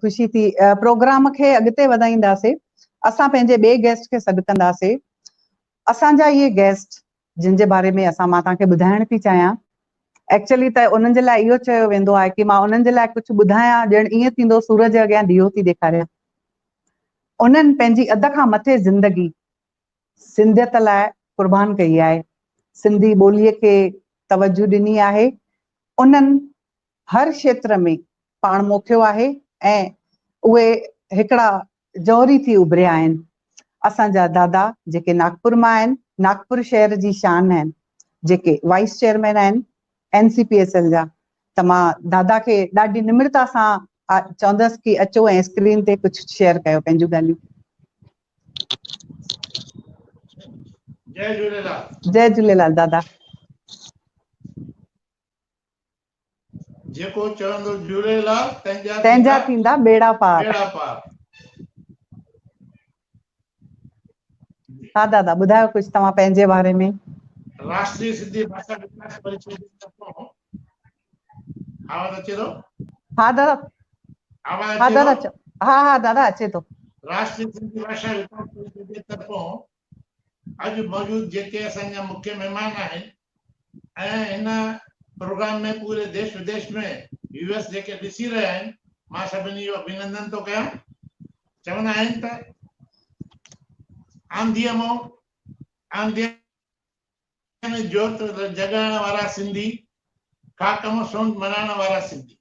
خوشي ٿي پروگرام کي اڳتي وڌائينداسين اسان پنهنجي ٻئي گيسٽ کي سڏ ڪنداسين اسان جا اهي گيسٽ جن جي باري ۾ اسان مان توهان کي ٻڌائڻ ٿي چاهيان ايڪچولي ته انهن جي لاء اهو چيو ويندو آهي ڪي مان انهن جي لاء ڪجهه ٻڌايان ڄڻ ائين ٿيندو سورج جي اڳيان ڏيئو ٿي ڏيکاريان انهن پنهنجي اڌ کان مٿي زندگي سنڌيت لاء قربان ڪئي آهي سنڌي ٻولي کي توجه ڏني آهي انهن هر کيتر ۾ پاڻ موکيو آهي ۽ اهي هڪڙا جوهري ٿي اڀريا آهن. اسان جا دادا جيڪي ناگپور مان آهن، ناگپور شهر جي شان آهن، جيڪي وائيس چيئرمين آهن N C P S L جا ته مان دادا کي ڏاڍي نمرتا سان چوندس ڪي اچو ۽ اسڪرين تي ڪجهه شيئر ڪيو پنهنجون ڳالهيون. جئي جهوليلال. جئي جهوليلال دادا. جيڪو چوندو جهوليلال تنهنجا ٿيندا ٻيڙا پار. ها دادا ٻڌايو ڪجهه توهان پنهنجي باري ۾. راشٽري سنڌي ڀاشا وڪاس پريشد جي طرفان آواز اچي ٿو. ها دادا آواز اچي ٿو. ها ها دادا اچي ٿو. راشٽري سنڌي ڀاشا وڪاس پريشد جي طرفان اڄ موجود جيڪي اسان جا مکيه مهمان آهن ۽ هن پروگرام ۾ پوري ديش وديش ۾ ويوس جيڪي ڏسي رهيا آهن مان سڀني جو اڀينندن ٿو ڪيان چوندا آهن ته آنڌيء مون آنڌيء ڪن جوت جڳائڻ وارا سنڌي، خاڪ مان سونڊ مڙهائڻ وارا سنڌي.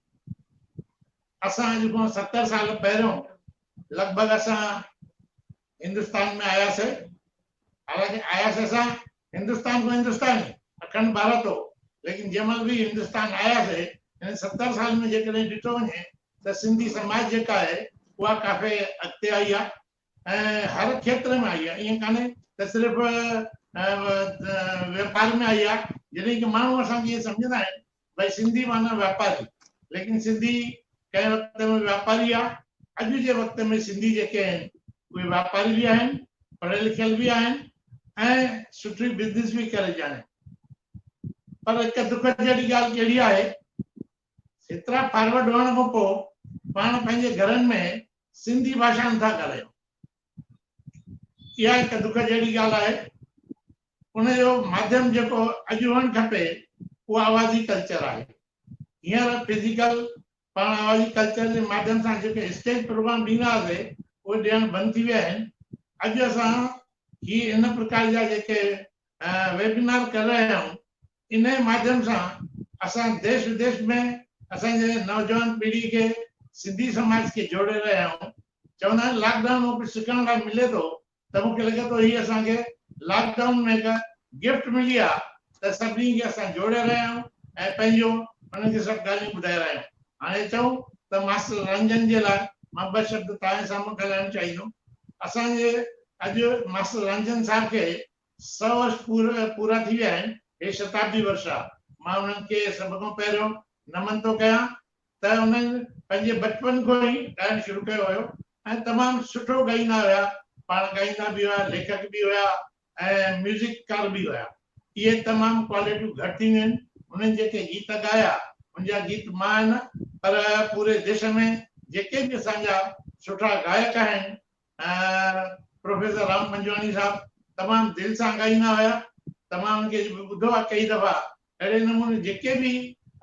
اسان اڄ کان ستر سال پهريون لڳ ڀڳ اسان هندستان ۾ آياسي. حالانڪه آياسي اسان هندستان کان هندستان ئي اکنڊ ڀارت هو ليڪن جنهن مهل به هندستان آياسي هنن ستر سالن ۾ جيڪڏهن ڏٺو وڃي ته سنڌي سماج جيڪا آهي اها ڪافي اڳتي آئي آهي. ۽ هر کيتر ۾ آئي آهي ائين ڪانهي ته صرف واپار ۾ آئي آهي جڏهن ڪي ماڻهو اسان کي ائين سمجهندا آهن ڀاء سنڌي معنيٰ واپاري ليڪن سنڌي ڪنهن وقت ۾ واپاري آهي اڄ جي وقت ۾ سنڌي جيڪي آهن اهي واپاري به آهن پڙهيل لکيل به آهن ۽ سٺي بزنس به ڪري ڄاڻن پر هڪ دک جهڙي ڳالهه ڪهڙي آهي ايترا فارورڊ هئڻ کان پوء پاڻ پنهنجي گهرن ۾ سنڌي ڀاشا نٿا ڳالهايون. اها هڪ دک جهڙي ڳالهه آهي. ان جو ماڌيم جيڪو اڄ هئڻ کپي اهو آوازي ڪلچر آهي. هينئر فزيڪل پاڻ آوازي ڪلچر جي ماڌيم سان جيڪي اسٽيج پروگرام ڏيندا هئاسي اهي ڏيڻ بند ٿي ويا آهن. اڄ اسان هي ان پرڪار جا جيڪي ويبنار ڪري رهيا آهيون انهيء ماڌيم سان اسان ديس وديس ۾ اسان جي نوجوان پيڙهي کي سنڌي سماج کي جوڙي رهيا آهيون. چوندا آهن لاڪ ڊائون مان ڪجهه سکڻ لاء ملي ٿو ته مون کي لڳي ٿو هي اسان کي لاڪ ڊائون ۾ هڪ گفٽ ملي آهي ته سڀني کي اسان جوڙي رهيا آهيون ۽ پنهنجو انهن کي سڀ ڳالهيون ٻڌائي رهيا آهيون. هاڻي چئون ته ماستر رنجن جي لاء مان ٻه شبد توهان جي سامهون ڳالهائڻ چاهيندم. اسان جي اڄ ماستر رنجن صاحب کي سؤ ورش پورا ٿي ويا آهن. هي شتابدي ورش آ. مان انهن کي سڀ کان پهريون نمن ٿو ڪيان ته انهن پنهنجي بچپن کان ئي ڳائڻ شروع ڪيو هيو ۽ تمام سٺو ڳائيندا هيا. پاڻ ڳائيندا به هيا، ليکڪ به هيا ۽ ميوزڪ ڪار به هيا. اهي تمام ڪواليٽيون گهٽ ٿينديون آهن. هنن جيڪي گيت ڳايا ان جا گيت مان نه پر پوري ديش ۾ جيڪي به اسان جا سٺا گائڪ آهن پروفيسر رام پنجواڻي صاحب تمام دل سان ڳائيندا هيا تمام ان کي ٻڌو آهي ڪئي دفعا اهڙي نموني جيڪي به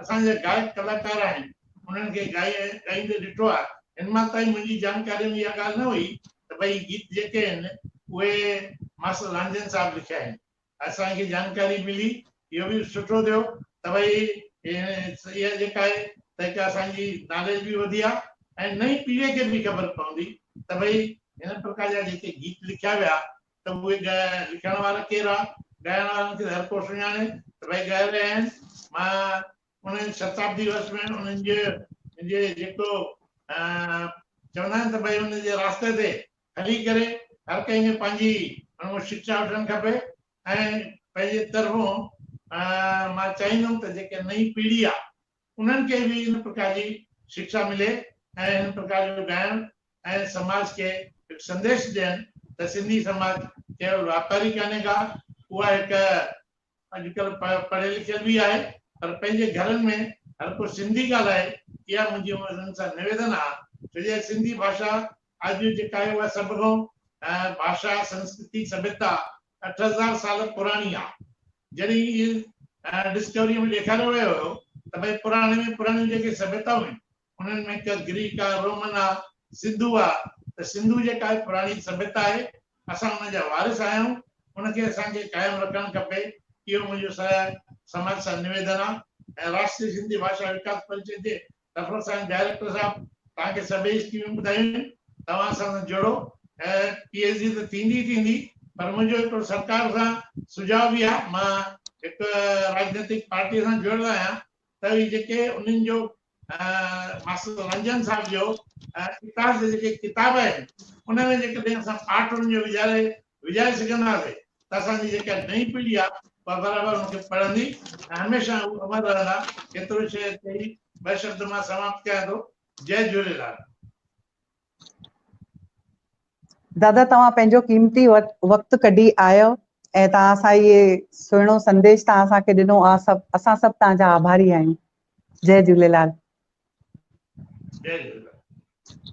اسان جا گائڪ ڪلاڪار آهن انهن کي ڳائيندي ڏٺو آهي هن مان تائين منهنجي جانڪاري ۾ اها ڳالهه نه هئي ته ڀئي گيت جيڪي آهن اهي ماستر رانجهن صاحب لکيا آهن اسان کي جانڪاري ملي اهو به سٺو ٿيو ته ڀئي اها جيڪا آهي ته هڪ اسان جي ناليج به وڌي ها ۽ نئين پيڙهي کي به خبر پوندي ته ڀئي هن پرڪار جا جيڪي گيت لکيا ويا ته اهي لکڻ وارا ڪير ها ڳائڻ وارن کي هر ڪو سڃاڻي ته ڀئي ڳائي رهيا آهن مان انهن شتابدي وس ۾ انهن جي جي جيڪو چوندا آهن ته ڀئي ان جي راسته تي تنھن ڪري ھر ڪنھن کي پنھنجي اڻموٽ شڪشا وٺڻ کپي ۽ پنھنجي طرفون مان چاھيندم ته جيڪي نئين پيڙھي آ انھن کي به ان پرڪار جي شڪشا ملي ۽ ھن پرڪار جو ڳائڻ ۽ سماج کي ھڪ سنديش ڏين ته سنڌي سماج ڪيول واپاري ڪانھي ڪا اھا ھڪ اڄ ڪلهه پڙهيل لکيل به آهي پر پنهنجي گهرن ۾ هر ڪو سنڌي ڳالهائي اها منهنجي انهن سان نويدن آ ڇو جو سنڌي ڀاشا اڄ جيڪا آهي اها سڀ کان ڀاشا سنسڪرتي سڀيتا اٺ هزار سال پراڻي آ جڏهن اهي ڊسڪوريء ۾ ڏيکاريو ويو هيو ته ڀئي پراڻي ۾ پراڻيون جيڪي سڀيتائون آهن انهن ۾ ڪا گريڪ آ، رومن آ، سنڌو آ ته سنڌو جيڪا هڪ پراڻي سڀيتا آهي، اسان ان جا وارث آهيون، ان کي اسان کي قائم رکڻ کپي، اهو منهنجو سڄا سماج سان نويدن آ ۽ راشٽري سنڌي ڀاشا وڪاس پريشد جي طرفن سان ڊائريڪٽر صاحب توهان کي سڀئي اسڪيمون ٻڌايون آهن، توهان اسان سان جڙو ۽ پي ايڇ ڊي ته ٿيندي ئي ٿيندي پر منهنجو هڪڙو سرڪار سان سجهاء به آ، مان هڪ راڄنيتڪ پارٽيء سان جڙيل آهيان، ته اهي جيڪي انهن جو ماستر رنجن صاحب جو اتار جا جيڪي ڪتاب آهن انهن ۾ جيڪڏهن اسان پاٺ انهن جو وجهاري وجهائي سگهنداسين ته اسان جي جيڪا نئين پيڙهي آهي اها برابر ان کي پڙهندي ۽ هميشه هو امر رهندا ايترو شعر چئي ٻه شبد مان سماپت ڪيان ٿو جئي جهوليلال. دادا توهان پنهنجو قيمتي وقت ڪڍي آيو ۽ توهان اسان اهي سهڻو سنديش توهان اسان کي ڏنو آ سڀ اسان سڀ توهان جا آڀاري آهيون جي جهوليلال جي جهوليلال